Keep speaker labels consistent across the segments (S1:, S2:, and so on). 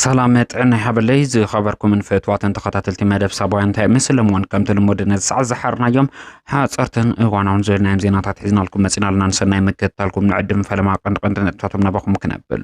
S1: ሰላም ጥዕና ይሃበለይ ዝኸበርኩምን ፍትዋትን ተኸታተልቲ መደብ ሳባውያን እንታይ ምስልም እውን ከምቲ ልሙድ ነዚ ሰዓት ዝሓርናዮም ሓፀርትን እዋናውን ዝብልናዮም ዜናታት ሒዝናልኩም መፂና ኣለና ንሰናይ ምክትታልኩም ንዕድም ፈለማ ቀንዲ ቀንዲ ነጥብታቶም ናባኹም ክነብል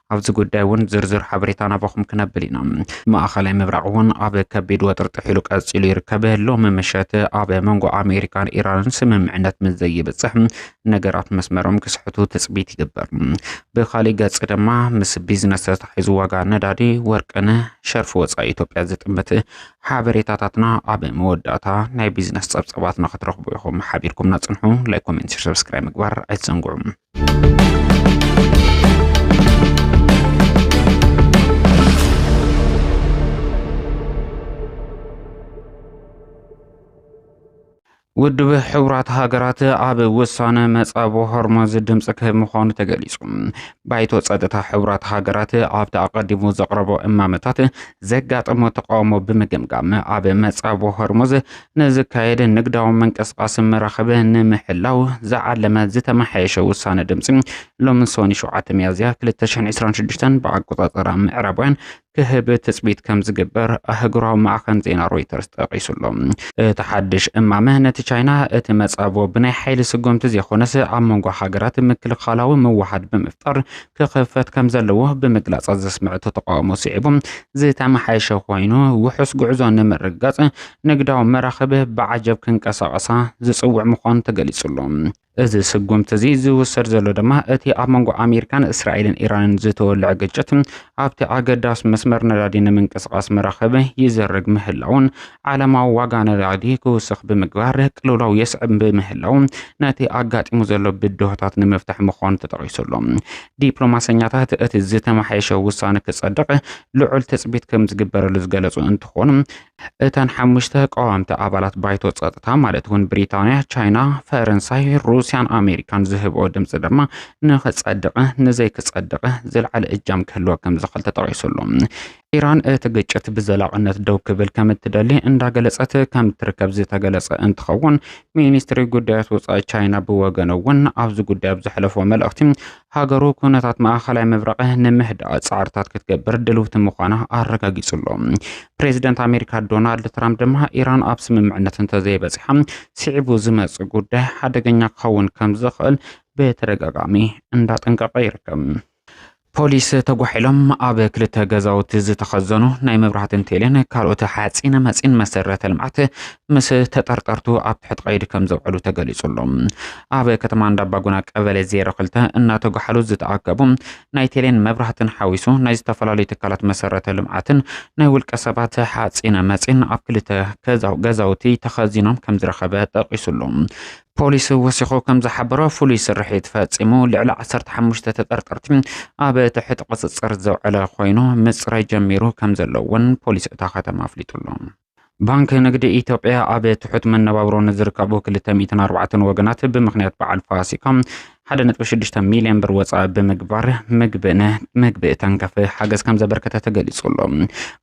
S1: ኣብዚ ጉዳይ እውን ዝርዝር ሓበሬታ ናባኹም ክነብል ኢና። ማእኸላይ ምብራቕ እውን ኣብ ከቢድ ወጥሪ ጥሒሉ ቀፂሉ ይርከብ። ሎሚ ምሸት ኣብ መንጎ ኣሜሪካን ኢራንን ስምምዕነት ምስ ዘይብፅሕ ነገራት መስመሮም ክስሕቱ ትፅቢት ይግበር። ብካሊእ ገፅ ድማ ምስ ቢዝነስ ተታሒዙ ዋጋ ነዳዲ፣ ወርቅን ሸርፊ ወፃኢ ኢትዮጵያ ዝጥምት ሓበሬታታትና ኣብ መወዳእታ ናይ ቢዝነስ ፀብፀባትና ክትረኽቡ ኢኹም። ሓቢርኩምና ፅንሑ። ላይክ፣ ኮሜንት፣ ሸር፣ ሰብስክራይብ ምግባር ኣይትዘንግዑ። ውድብ ሕቡራት ሃገራት ኣብ ውሳነ መጻብ ሆርሞዝ ድምፂ ክህብ ምዃኑ ተገሊጹ ባይቶ ጸጥታ ሕቡራት ሃገራት ኣብቲ ኣቐዲሙ ዘቕረቦ እማመታት ዘጋጠሞ ተቃውሞ ብምግምጋም ኣብ መጻብ ሆርሞዝ ንዝካየድ ንግዳዊ ምንቅስቓስ መራኽብ ንምሕላው ዝዓለመ ዝተመሓየሸ ውሳነ ድምፂ ሎሚ ሰኒ 7 ሚያዝያ 2026 ብኣቆፃፅራ ምዕራባውያን ክህብ ትፅቢት ከም ዝግበር ኣህጉራዊ ማዕኸን ዜና ሮይተርስ ጠቒሱ ኣሎ። እቲ ሓድሽ እማመ ነቲ ቻይና እቲ መጻብቦ ብናይ ሓይሊ ስጉምቲ ዘይኮነስ ኣብ መንጎ ሃገራት ምክልኻላዊ ምውሓድ ብምፍጣር ክኽፈት ከም ዘለዎ ብምግላጻ ዘስምዐቶ ተቃውሞ ስዒቡ ዝተመሓየሸ ኮይኑ ውሑስ ጉዕዞ ንምርግጋጽ ንግዳዊ መራኽብ ብዓጀብ ክንቀሳቐሳ ዝጽውዕ ምዃኑ ተገሊጹ ኣሎ። እዚ ስጉምቲ እዚ ዝውሰድ ዘሎ ድማ እቲ ኣብ መንጎ ኣሜሪካን እስራኤልን ኢራንን ዝተወልዐ ግጭት ኣብቲ ኣገዳስ መስመር ነዳዲ ንምንቅስቓስ መራኽብ ይዘርግ ምህላውን ዓለማዊ ዋጋ ነዳዲ ክውስኽ ብምግባር ቅልውላው የስዕብ ብምህላው ነቲ ኣጋጢሙ ዘሎ ብድሆታት ንምፍታሕ ምዃኑ ተጠቒሱ ኣሎ። ዲፕሎማሰኛታት እቲ ዝተመሓየሸ ውሳነ ክጸድቕ ልዑል ትጽቢት ከም ዝግበረሉ ዝገለጹ እንትኾኑ እተን ሓሙሽተ ቀዋምቲ ኣባላት ባይቶ ጸጥታ ማለት እውን ብሪጣንያ፣ ቻይና፣ ፈረንሳይ፣ ሩስያን ኣሜሪካን ዝህብኦ ድምፂ ድማ ንክጸድቐ ንዘይክጸድቐ ዝለዓለ እጃም ክህልዎ ከም ዝኽእል ተጠቒሱ ኣሎ። ኢራን እቲ ግጭት ብዘላቕነት ደው ክብል ከም እትደሊ እንዳገለጸት ከም እትርከብ ዝተገለጸ እንትኸውን ሚኒስትሪ ጉዳያት ወፃኢ ቻይና ብወገኑ እውን ኣብዚ ጉዳይ ኣብ ዘሕለፎ መልእኽቲ ሃገሩ ኩነታት ማእኸላይ ምብራቕ ንምህዳእ ፃዕርታት ክትገብር ድልውቲ ምዃና ኣረጋጊፁ ኣሎ። ፕሬዚደንት ኣሜሪካ ዶናልድ ትራምፕ ድማ ኢራን ኣብ ስምምዕነት እንተዘይበፂሓ ስዒቡ ዝመፅእ ጉዳይ ሓደገኛ ክኸውን ከም ዝኽእል ብተደጋጋሚ እንዳጠንቀቐ ይርከብ። ፖሊስ ተጓሒሎም ኣብ ክልተ ገዛውቲ ዝተኸዘኑ ናይ መብራህትን ቴሌን ካልኦት ሓፂነ መፂን መሰረተ ልምዓት ምስ ተጠርጠርቱ ኣብ ትሕቲ ቀይዲ ከም ዘውዕሉ ተገሊጹ ኣሎ። ኣብ ከተማ እንዳባጉና ቀበሌ ዜሮ ክልተ እናተጓሓሉ ዝተኣከቡ ናይ ቴሌን መብራህትን ሓዊሱ ናይ ዝተፈላለዩ ትካላት መሰረተ ልምዓትን ናይ ውልቀ ሰባት ሓፂነ መፂን ኣብ ክልተ ገዛውቲ ተኸዚኖም ከም ዝረኸበ ጠቒሱሉ። ፖሊስ ወሲኹ ከም ዝሓበሮ ፍሉይ ስርሒት ፈፂሙ ልዕሊ ዓሰርተ ሓሙሽተ ተጠርጠርቲ ኣብ ትሕቲ ቁፅፅር ዘውዐለ ኮይኑ ምፅራይ ጀሚሩ ከም ዘሎ እውን ፖሊስ እታ ከተማ ኣፍሊጡሉ። ባንኪ ንግዲ ኢትዮጵያ ኣብ ትሑት መነባብሮ ንዝርከቡ ክልተ ሚእትን ኣርባዕተን ወገናት ብምኽንያት በዓል ፋሲካ ሓደ ነጥቢ ሽዱሽተ ሚልዮን ብር ወፃኢ ብምግባር ምግብን ምግቢ ተንከፍ ሓገዝ ከም ዘበርከተ ተገሊጹ ኣሎ።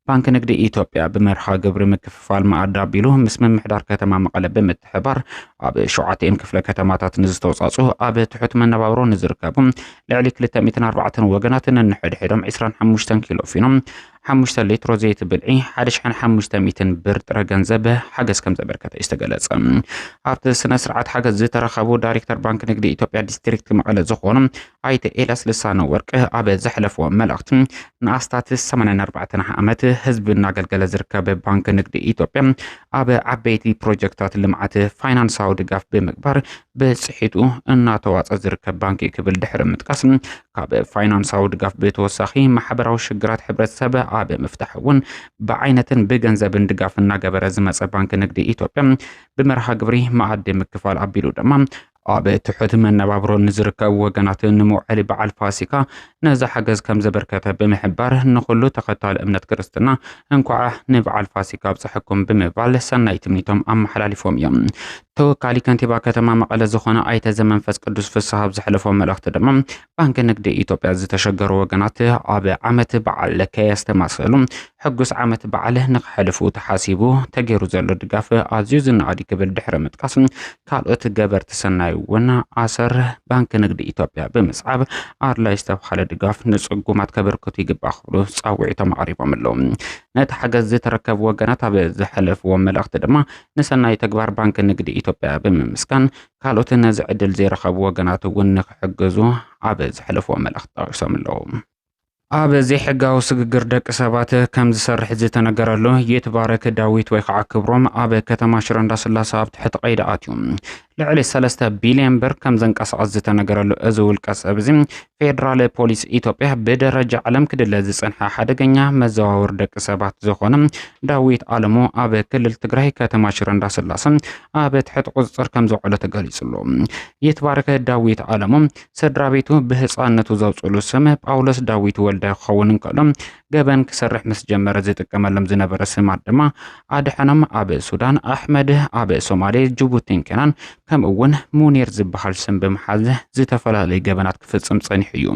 S1: ባንኪ ንግዲ ኢትዮጵያ ብመርሃ ግብሪ ምክፍፋል መኣዲ ኣቢሉ ምስ ምምሕዳር ከተማ መቐለ ብምትሕባር ኣብ ሸውዓተኤን ክፍለ ከተማታት ንዝተውፃፅኡ ኣብ ትሑት መነባብሮ ንዝርከቡ ልዕሊ ክልተ ሚእትን ኣርባዕተን ወገናት ነንሕድሕዶም ዕስራን ሓሙሽተን ኪሎ ፊኖም ሓሙሽተ ሊትሮ ዘይቲ ብልዒ ሓደ ሽሕን ሓሙሽተ ሚእትን ብር ጥረ ገንዘብ ሓገዝ ከም ዘበርከተ እዩ ዝተገለጸ። ኣብቲ ስነ ስርዓት ሓገዝ ዝተረኸቡ ዳይሬክተር ባንኪ ንግዲ ኢትዮጵያ ዲስትሪክት መቐለ ዝኾኑ ኣይተ ኤልያስ ልሳነ ወርቅ ኣብ ዘሕለፍዎ መልእኽቲ ንኣስታት 84 ዓመት ህዝቢ እናገልገለ ዝርከብ ባንኪ ንግዲ ኢትዮጵያ ኣብ ዓበይቲ ፕሮጀክታት ልምዓት ፋይናንሳዊ ድጋፍ ብምግባር ብፅሒቱ እናተዋፀ ዝርከብ ባንኪ ክብል ድሕሪ ምጥቃስ ካብ ፋይናንሳዊ ድጋፍ ብተወሳኺ ማሕበራዊ ሽግራት ሕብረተሰብ ኣብ ምፍታሕ እውን ብዓይነትን ብገንዘብን ድጋፍ እናገበረ ዝመፀ ባንኪ ንግዲ ኢትዮጵያ ብመርሃ ግብሪ መኣዲ ምክፋል ኣቢሉ ድማ ኣብ ትሑት መነባብሮ ንዝርከቡ ወገናት ንመውዐሊ በዓል ፋሲካ ነዚ ሓገዝ ከም ዘበርከተ ብምሕባር ንኹሉ ተኸታሊ እምነት ክርስትና እንኳዕ ንበዓል ፋሲካ ኣብፀሐኩም ብምባል ሰናይ ትምኒቶም ኣመሓላሊፎም እዮም። ተወካሊ ከንቲባ ከተማ መቐለ ዝኾነ ኣይተ ዘመንፈስ ቅዱስ ፍስሃ ኣብ ዘሕለፎ መልእኽቲ ድማ ባንኪ ንግዲ ኢትዮጵያ ዝተሸገሩ ወገናት ኣብ ዓመት በዓል ከየስተማሰሉ ሕጉስ ዓመት በዓል ንክሕልፉ ተሓሲቡ ተገይሩ ዘሎ ድጋፍ ኣዝዩ ዝነኣድ ክብል ድሕሪ ምጥቃስ ካልኦት ገበርቲ ሰናይ እውን ኣሰር ባንኪ ንግዲ ኢትዮጵያ ብምስዓብ ኣድላይ ዝተብሃለ ድጋፍ ንፅጉማት ከበርክቱ ይግባእ ክብሉ ፃውዒቶም ኣቕሪቦም ኣለዉ። ነቲ ሓገዝ ዝተረከቡ ወገናት ኣብ ዘሐለፍዎ መልእኽቲ ድማ ንሰናይ ተግባር ባንኪ ንግዲ ኢትዮጵያ ብምምስጋን ካልኦት ነዚ ዕድል ዘይረኸቡ ወገናት እውን ንክሕግዙ ኣብ ዘሕለፍዎ መልእኽቲ ጠቒሶም ኣለዉ። ኣብ ዘይሕጋዊ ስግግር ደቂ ሰባት ከም ዝሰርሕ ዝተነገረሉ ይትባረክ ዳዊት ወይ ከዓ ክብሮም ኣብ ከተማ ሽረ እንዳስላሰ ኣብ ትሕቲ ቀይዲ ኣትዩ ልዕሊ ሰለስተ ቢልዮን ብር ከም ዘንቀሳቐስ ዝተነገረሉ እዚ ውልቀ ሰብ እዚ ፌደራል ፖሊስ ኢትዮጵያ ብደረጃ ዓለም ክድለ ዝጸንሐ ሓደገኛ መዘዋወሪ ደቂ ሰባት ዝኾነ ዳዊት ኣለሞ ኣብ ክልል ትግራይ ከተማ ሽረ እንዳስላሰ ኣብ ትሕቲ ቁጽጽር ከም ዘውዕሎ ተገሊጹሉ። ይትባረከ ዳዊት ኣለሞ ስድራ ቤቱ ብህፃነቱ ዘውፅሉ ስም ጳውሎስ ዳዊት ወልደ ክኸውን እንከሎ ገበን ክሰርሕ ምስ ጀመረ ዝጥቀመሎም ዝነበረ ስማት ድማ ኣድሐኖም ኣብ ሱዳን፣ ኣሕመድ ኣብ ሶማሌ፣ ጅቡቲን ኬናን ከምኡ እውን ሙኒር ዝበሃል ስም ብምሓዝ ዝተፈላለዩ ገበናት ክፍፅም ፀኒሑ እዩ።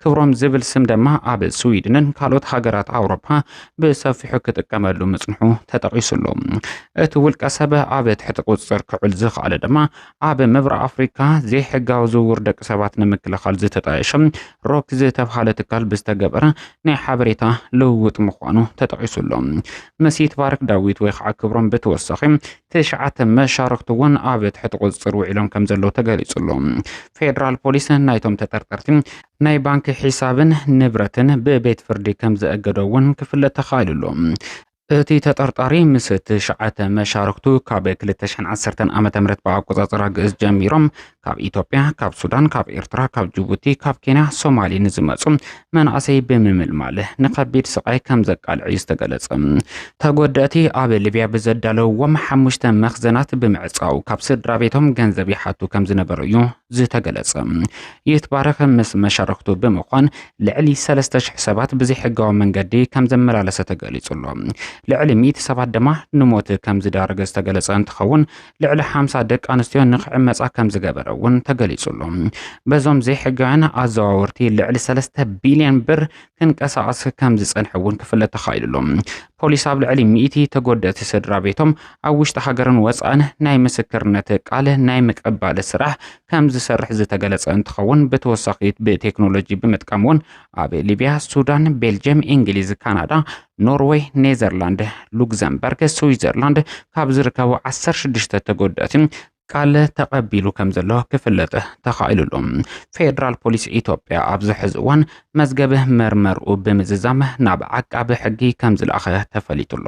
S1: ክብሮም ዝብል ስም ድማ ኣብ ስዊድንን ካልኦት ሃገራት ኣውሮፓ ብሰፊሑ ክጥቀመሉ ምጽንሑ ተጠቒሱ ኣሎ። እቲ ውልቀ ሰብ ኣብ ትሕቲ ቁጽጽር ክዕል ዝኸኣለ ድማ ኣብ ምብራቕ ኣፍሪካ ዘይሕጋዊ ዝውውር ደቂ ሰባት ንምክልኻል ዝተጣየሸ ሮክ ዝተብሃለ ትካል ብዝተገበረ ናይ ሓበሬታ ልውውጥ ምዃኑ ተጠቂሱ ኣሎ። ምስ ይትባረክ ዳዊት ወይ ከዓ ክብሮም ብተወሳኺ ትሽዓተ መሻርክቲ እውን ኣብ ትሕቲ ቁፅፅር ውዒሎም ከም ዘለዉ ተገሊፁ ኣሎ። ፌዴራል ፖሊስ ናይቶም ተጠርጠርቲ ናይ ባንኪ ሒሳብን ንብረትን ብቤት ፍርዲ ከም ዘእገዶ እውን ክፍለጥ ተኻኢሉ ኣሎ። እቲ ተጠርጣሪ ምስ ትሽዓተ መሻርክቱ ካብ 2010 ዓ ም ብኣቆፃፅራ ግእዝ ጀሚሮም ካብ ኢትዮጵያ፣ ካብ ሱዳን፣ ካብ ኤርትራ፣ ካብ ጅቡቲ፣ ካብ ኬንያ፣ ሶማሊ ንዝመፁ መናእሰይ ብምምልማል ንከቢድ ስቃይ ከም ዘቃልዕ እዩ ዝተገለፀ። ተጎደእቲ ኣብ ሊብያ ብዘዳለውዎም ሓሙሽተ መኽዘናት ብምዕፃው ካብ ስድራ ቤቶም ገንዘብ ይሓቱ ከም ዝነበሩ እዩ ዝተገለፀ። ይትባረክ ምስ መሻርክቱ ብምዃን ልዕሊ ሰለስተ ሽሕ ሰባት ብዘይሕጋዊ መንገዲ ከም ዘመላለሰ ተገሊጹ ኣሎ። ልዕሊ ሚእቲ ሰባት ድማ ንሞት ከም ዝዳረገ ዝተገለጸ እንትኸውን ልዕሊ ሓምሳ ደቂ ኣንስትዮ ንክዕመጻ ከም ዝገበረ እውን ተገሊጹ ኣሎ። በዞም ዘይሕጋውያን ኣዘዋወርቲ ልዕሊ ሰለስተ ቢልዮን ብር ክንቀሳቐስ ከም ዝጸንሐ እውን ክፍለጥ ተኻኢሉ ኣሎ። ፖሊስ ኣብ ልዕሊ ሚእቲ ተጎደእቲ ስድራ ቤቶም ኣብ ውሽጢ ሃገርን ወጻእን ናይ ምስክርነት ቃል ናይ ምቅባል ስራሕ ከምዝሰርሕ ዝተገለፀ እንትኸውን ብተወሳኺ ብቴክኖሎጂ ብምጥቃም እውን ኣብ ሊቢያ፣ ሱዳን፣ ቤልጅየም፣ ኢንግሊዝ፣ ካናዳ፣ ኖርወይ፣ ኔዘርላንድ፣ ሉግዘምበርግ፣ ስዊዘርላንድ ካብ ዝርከቡ ዓሰርተ ሽዱሽተ ተጎዳእቲ ቃል ተቐቢሉ ከምዘሎ ክፍለጥ ተኻኢሉ ኣሎ። ፌዴራል ፖሊስ ኢትዮጵያ ኣብዚ ሕዚ እዋን መዝገብ መርመርኡ ብምዝዛም ናብ ዓቃቢ ሕጊ ከምዝለኣኸ ተፈሊጡ ኣሎ።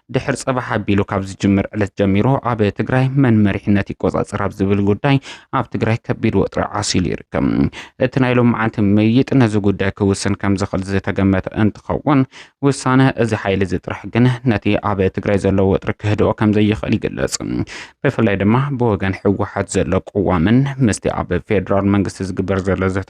S1: ድሕር ጽባሕ ኣቢሉ ካብ ዝጅምር ዕለት ጀሚሩ ኣብ ትግራይ መን መሪሕነት ይቆጻጸር ኣብ ዝብል ጉዳይ ኣብ ትግራይ ከቢድ ወጥሪ ዓሲሉ ይርከብ። እቲ ናይ ሎምዓንቲ ምይይጥ ነዚ ጉዳይ ክውስን ከም ዝኽእል ዝተገመተ እንትኸውን ውሳነ እዚ ሓይሊ እዚ ጥራሕ ግን ነቲ ኣብ ትግራይ ዘሎ ወጥሪ ክህድኦ ከም ዘይኽእል ይግለጽ። ብፍላይ ድማ ብወገን ህወሓት ዘሎ ቅዋምን ምስቲ ኣብ ፌዴራል መንግስቲ ዝግበር ዘሎ ዘተ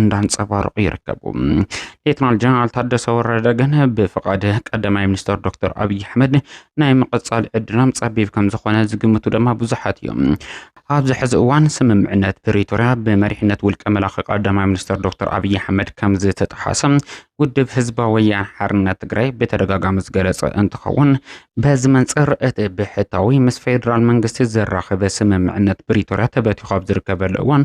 S1: እንዳንጸባረቑ ይርከቡ። ሌተናል ጀነራል ታደሰ ወረደ ግን ብፍቓድ ቀዳማይ ሚኒስትር ዶክተር ኣብዪ ኣሕመድ ናይ ምቕጻል ዕድሎም ጸቢብ ከም ዝኾነ ዝግምቱ ድማ ብዙሓት እዮም። ኣብዚ ሕዚ እዋን ስምምዕነት ፕሪቶርያ ብመሪሕነት ውልቀ መላኺ ቀዳማይ ሚኒስትር ዶክተር ኣብዪ ኣሕመድ ከም ዝተጠሓሰ ውድብ ህዝባዊ ወያነ ሓርነት ትግራይ ብተደጋጋሚ ዝገለጸ እንትኸውን በዚ መንጽር እቲ ብሕታዊ ምስ ፌዴራል መንግስቲ ዘራኽበ ስምምዕነት ፕሪቶርያ ተበቲኹ ኣብ ዝርከበሉ እዋን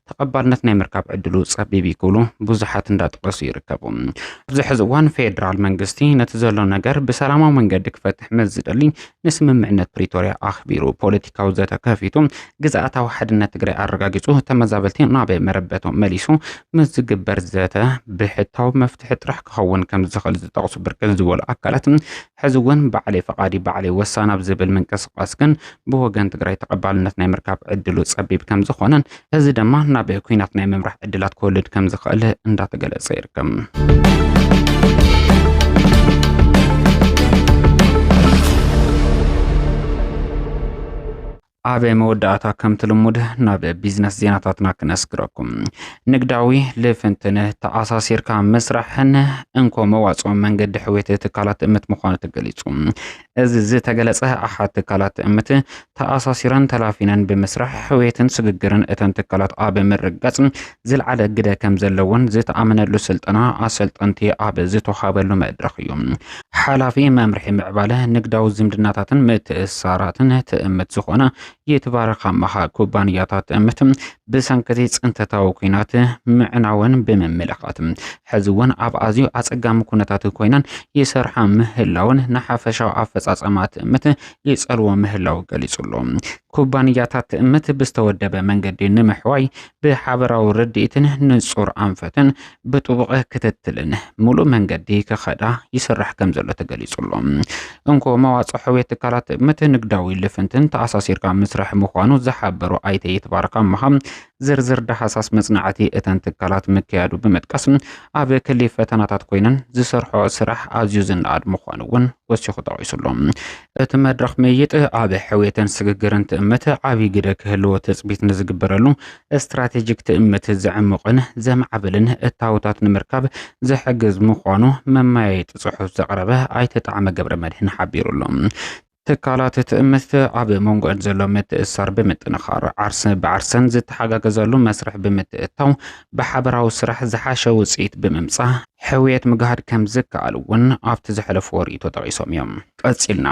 S1: ተቐባልነት ናይ ምርካብ ዕድሉ ጸቢብ እዩ ክብሉ ብዙሓት እንዳጠቐሱ ይርከቡ። ኣብዚ ሕዚ እዋን ፌዴራል መንግስቲ ነቲ ዘሎ ነገር ብሰላማዊ መንገዲ ክፈትሕ ምስ ዝደሊ ንስምምዕነት ፕሪቶሪያ ኣኽቢሩ ፖለቲካዊ ዘተ ከፊቱ ግዝኣታዊ ሓድነት ትግራይ ኣረጋጊጹ ተመዛበልቲ ናብ መረበቶም መሊሱ ምስ ዝግበር ዘተ ብሕታዊ መፍትሒ ጥራሕ ክኸውን ከም ዝኽእል ዝጠቕሱ ብርክት ዝበሉ ኣካላት ሕዚ እውን ባዕለይ ፈቓዲ ባዕለይ ወሳኒ ኣብ ዝብል ምንቅስቓስ ግን ብወገን ትግራይ ተቐባልነት ናይ ምርካብ ዕድሉ ፀቢብ ከምዝኾነን እዚ ድማ ናብ ኩናት ናይ ምምራሕ ዕድላት ክወልድ ከምዝኽእል እንዳተገለፀ ይርከብ። ኣብ መወዳእታ ከምቲ ልሙድ ናብ ቢዝነስ ዜናታትና ክነስግረኩም ንግዳዊ ልፍንትን ተኣሳሲርካ ምስራሕን እንኮ መዋፅኦ መንገዲ ሕውየት ትካላት ትእምት ምዃኑ ተገሊፁ። እዚ ዝተገለፀ ኣሓት ትካላት ትእምት ተኣሳሲረን ተላፊነን ብምስራሕ ሕውየትን ስግግርን እተን ትካላት ኣብ ምርጋፅ ዝልዓለ ግደ ከም ዘለዎን ዝተኣመነሉ ስልጠና ኣሰልጠንቲ ኣብ ዝተውሃበሉ መድረኽ እዩ። ሓላፊ መምርሒ ምዕባለ ንግዳዊ ዝምድናታትን ምትእስሳራትን ትእምት ዝኾነ ይትባረክ ኣማሃ ኩባንያታት ትእምት ብሰንክቲ ፅንተታዊ ኩናት ምዕናወን ብምምልኻት ሕዚ እውን ኣብ ኣዝዩ ኣፀጋሚ ኩነታት ኮይነን ይሰርሓ ምህላውን ንሓፈሻዊ ኣፈፃፀማ ትእምት ይፀልዎ ምህላው ገሊፁ ኣሎ። ኩባንያታት ትእምት ብዝተወደበ መንገዲ ንምሕዋይ ብሓበራዊ ርድኢትን ንጹር ኣንፈትን ብጥቡቕ ክትትልን ሙሉእ መንገዲ ክኸዳ ይስራሕ ከም ዘሎ ተገሊጹሎ። እንኮ መዋጽኦ ሕውየት ትካላት ምት ንግዳዊ ልፍንትን ተኣሳሲርካ ምስራሕ ምዃኑ ዝሓበሩ ኣይተ ይትባረክ ኣምሃ ዝርዝር ዳህሳስ መጽናዕቲ እተን ትካላት ምክያዱ ብምጥቃስ ኣብ ክሊ ፈተናታት ኮይነን ዝሰርሖ ስራሕ ኣዝዩ ዝነኣድ ምዃኑ እውን ወሲኹ ጠቒሱሎም እቲ መድረኽ ምይይጥ ኣብ ሕውየትን ስግግርን ትእምት ዓብይ ግደ ክህልዎ ትፅቢት ንዝግበረሉ ስትራቴጂክ ትእምት ዘዕሙቕን ዘማዕብልን እታወታት ንምርካብ ዝሕግዝ ምዃኑ መመያየጢ ፅሑፍ ዘቕረበ ኣይተ ጣዕመ ገብረመድህን ሓቢሩ ኣሎ። ትካላት ትእምት ኣብ መንጎዕን ዘሎ ምትእስሳር ብምጥንኻር ዓርሰ ብዓርሰን ዝተሓጋገዘሉ መስርሕ ብምትእታው ብሓበራዊ ስራሕ ዝሓሸ ውፅኢት ብምምፃእ ሕውየት ምግሃድ ከምዝከኣል እውን ኣብቲ ዘሕለፍዎ ርኢቶ ጠቒሶም እዮም። ቀጺልና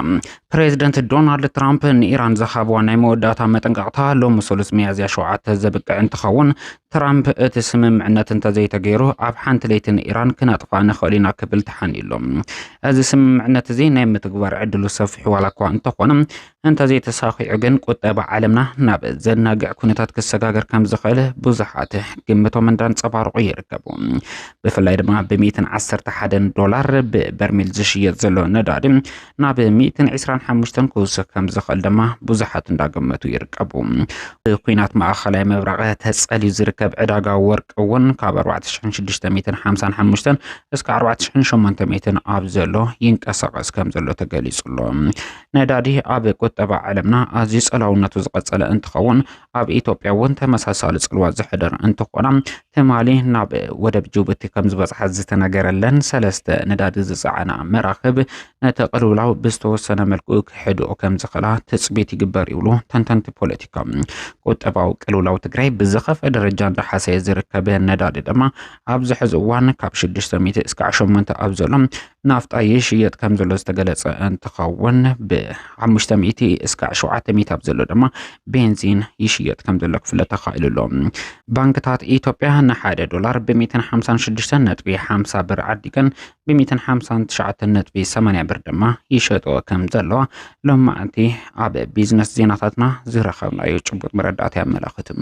S1: ፕሬዚደንት ዶናልድ ትራምፕ ንኢራን ዝሃብዋ ናይ መወዳእታ መጠንቀቕታ ሎሚ ሰሉስ መያዝያ ሸውዓተ ዘብቅዕ እንትኸውን ትራምፕ እቲ ስምምዕነት እንተዘይተገይሩ ኣብ ሓንቲ ለይቲ ንኢራን ክነጥፋ ንኽእል ኢና ክብል ተሓንዩሎም እዚ ስምምዕነት እዚ ናይ ምትግባር ዕድሉ ሰፊሑ ዋላ እኳ እንተኾነ እንተዘይተሳኺዑ ግን ቁጠባ ዓለምና ናብ ዘናግዕ ኩነታት ክሰጋገር ከም ዝኽእል ብዙሓት ግምቶም እንዳንጸባረቑ ይርከቡ። ብፍላይ ድማ ብሚእትን ዓሰርተ ሓደን ዶላር ብበርሚል ዝሽየጥ ዘሎ ነዳዲ ናብ ሚእትን ዕስራን ሓሙሽተን ክውስኽ ከም ዝኽእል ድማ ብዙሓት እንዳገመቱ ይርከቡ። ብኩናት ማእኸላይ ምብራቕ ተጸልዩ ዝርከብ ዕዳጋ ወርቂ እውን ካብ 4655 እስከ 4800 ኣብ ዘሎ ይንቀሳቐስ ከም ዘሎ ተገሊጹ ኣሎ። ነዳዲ ኣብ ቁጠባ ዓለምና ኣዝዩ ጸላውነቱ ዝቐጸለ እንትኸውን ኣብ ኢትዮጵያ እውን ተመሳሳሊ ጽልዋ ዘሕደር እንትኾና ትማሊ ናብ ወደብ ጅቡቲ ከም ዝበጽሓ ዝተነገረለን ሰለስተ ነዳዲ ዝጸዓና መራኽብ ነቲ ቅልውላው ብዝተወሰነ መልኩ ክሕድኦ ከም ዝኽእላ ትጽቢት ይግበር ይብሉ ተንተንቲ ፖለቲካ። ቁጠባዊ ቅልውላው ትግራይ ብዝኸፈ ደረጃ እንዳሓሰየ ዝርከብ ነዳዲ ድማ ኣብዚ ሕዚ እዋን ካብ 600 እስካዕ 8 ኣብ ዘሎ ናፍጣ ይሽየጥ ከም ዘሎ ዝተገለጸ እንትኸውን ብ500 እስካዕ 700 ኣብ ዘሎ ድማ ቤንዚን ይሽየጥ ከም ዘሎ ክፍለጥ ተኻኢሉ ኣሎ። ባንክታት ኢትዮጵያ ንሓደ ዶላር ብ156.50 ብር ዓዲገን ብ159.80 ብር ድማ ይሸጦ ከም ዘለዋ ሎማዕንቲ ኣብ ቢዝነስ ዜናታትና ዝረኸብናዮ ጭቡጥ መረዳእታ የመላኽትም።